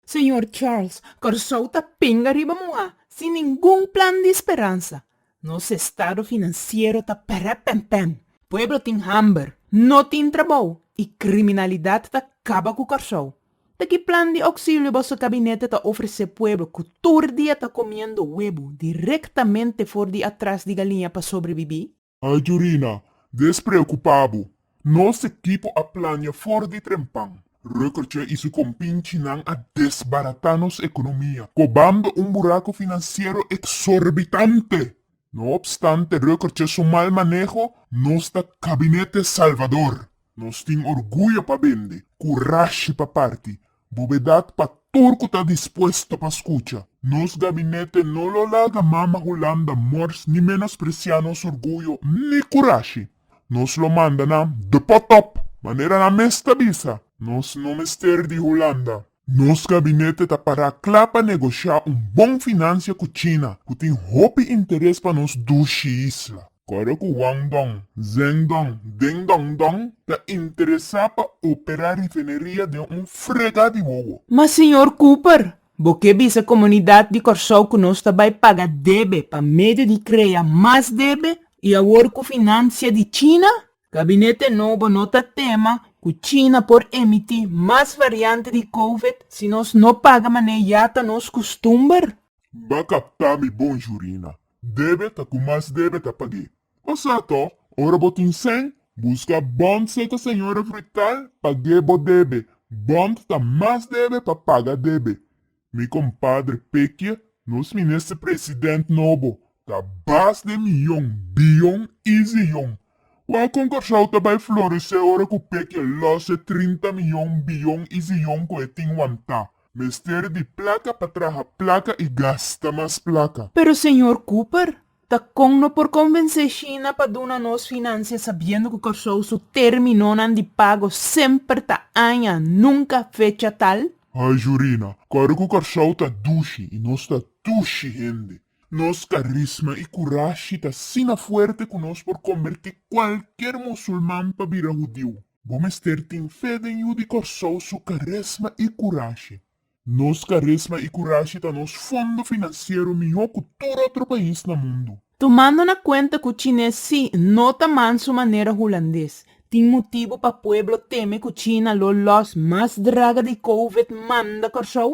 Señor Charles, Kòrsou ta pinga riba muhá, sin ningun plan di speransa. Nos estado finansiero ta perep pèmpèm, pueblo tin hamber, no tin trabou i kriminalidat ta kaba ku Kòrsou. Ta ki plan di ouksilio boso kabinete ta ofresé pueblo ku tur dia ta komiendo webo direktamente for di atras di galiña pa sobrebibí? Ayurina, Despreocupa bo. Nos equipo a plania for di trempan. Reukertje y su compinchinan a desbarata nos economia, cobando un buraco financiero exorbitante. No obstante Reukertje su mal maneho, nos ta Gabinete Salvador. Nos tin orguyo pa bende, curashi pa parti, Bobedat pa tur cu ta dispuesto pa scucha. Nos gabinete no lo laga Mama Hulanda mors ni menosprecia nos orguyo ni curashi. Nos lo manda nan de pot op, manera nan mes ta bisa. Nos no mester di Hulanda. Nos gabinete ta para cla pa negocia un bon financia cu China, cu tin hopi interes pa nos dushi isla. Kòrda ku Wang Dong, Zheng Dong, Ding Dong Dong ta interesá pa operá rifineria den un frega di wowo. Ma señor Cooper, bo ke bisa komunidat di Kòrsou ku nos ta bai paga debe pa medio di krea mas debe? I awor ku finansia di China, gabinete nobo no ta tema ku China por emití mas variante di covid si nos no paga manera ya ta nos kustumber? Ba kaptá mi bon jurina. Debe ta ku mas debe ta pag'é. Bo sa to, ora bo tin sèn, buska bònt seka señora Fruital pag'é bo debe, bònt ta mas debe pa paga debe. Mi kompadre Pekie, nos minister president nobo ta bas den miyon, biyon i ziyon. Wou kon Kòrsou ta bai floresé ora ku Pekie lòs e trinta miyon, biyon i ziyon ku e tin wantá. Mester di plaka pa traha plaka i gasta mas plaka. Pero señor Cooper, ta con no por convence China pa duna nos financia sabiendo cu Corsou su terminonan di pago semper ta aña, nunca fecha tal? Ay Jurina, ora cu Corsou ta dushi i nos ta dushi hende, nos carisma i curashi ta asina fuerte cu nos por converti cualkier musulman pa bira hudiu. Bo mester tin fe den yu di Kòrsou su karesma i kurashi. Nos karesma i kurashi ta nos fondo finansiero mihó ku tur otro pais na mundu. Tumando na kuenta ku Chinés si no ta mansu manera Hulandes, tin motibu pa pueblo teme ku China lo lòs mas draga di Covid manda Kòrsou?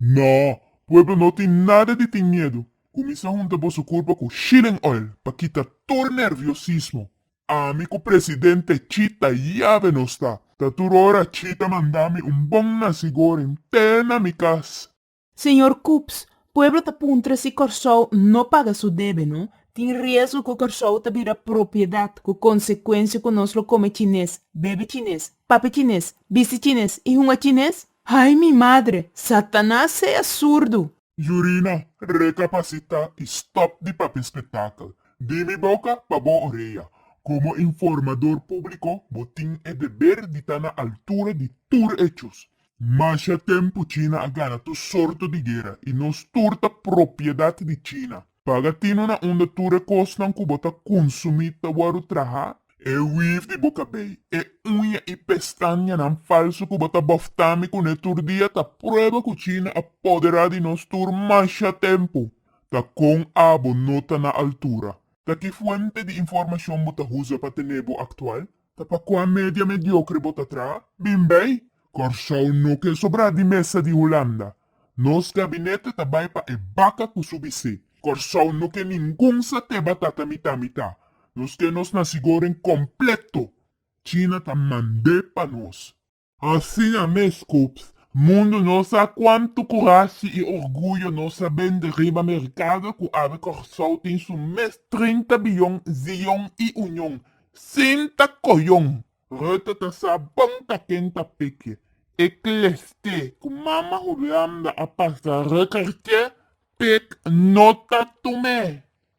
Nò, pueblo no tin nada di tin miedu. Kuminsá hunta boso kurpa ku Shilling Oil pa kita tur nerviosismo. Ami ku presidente Chita yabe nos ta. Ta tur ora Chita manda mi un bon nasigóren te na mi kas. Señor Coops, pueblo ta puntra si Kòrsou no paga su debe no, tin riesgo ku Kòrsou ta bira propiedat ku konsekuensia ku nos lo kome chines, bebe chines, papia chines, bisti chines i hunga chines? Ay mi madre! Satanas sea surdu! Yurina, Rekapasita i stòp di papia spektakel di mi boka pa bo orea. Komo informador públiko bo tin e deber di ta na altura di tur echos. Masha tempu China a gana tur sorto di guera i nos tur ta propiedat di China. Paga tino na unda tur e kosnan ku bo ta kunsumí ta wòrdu traha. E wif di bo kabei, e uña i pestañanan falsu ku bo ta bòftá mi kuné tur dia ta prueba ku China a poderá di nos tur masha tempu. Ta kon abo no ta na altura? Ta ki fuente di informashon bo ta usa pa tené bo aktual? Ta pa kua media mediokre bo ta traha? Bin bay! Kòrsou no ke sobrá di mesa di Hulanda. Nos gabinete ta bay pa e baka ku su bisé. Kòrsou no ke ningun satè batata mitá mitá. Nos ke nos nasigoren kompleto. China ta mand'é pa nos. Asina mes, Coops, mundu no sa cuantu curashi y orguyo no sa bende riba mercado cu awe Corsou tin su mes trinta biyon Zion y Union sin ta coyon. Rutte ta sa bon ta ken ta peke. E cleste cu mama Hulanda a pasa Rickertje, Pick, no ta tume.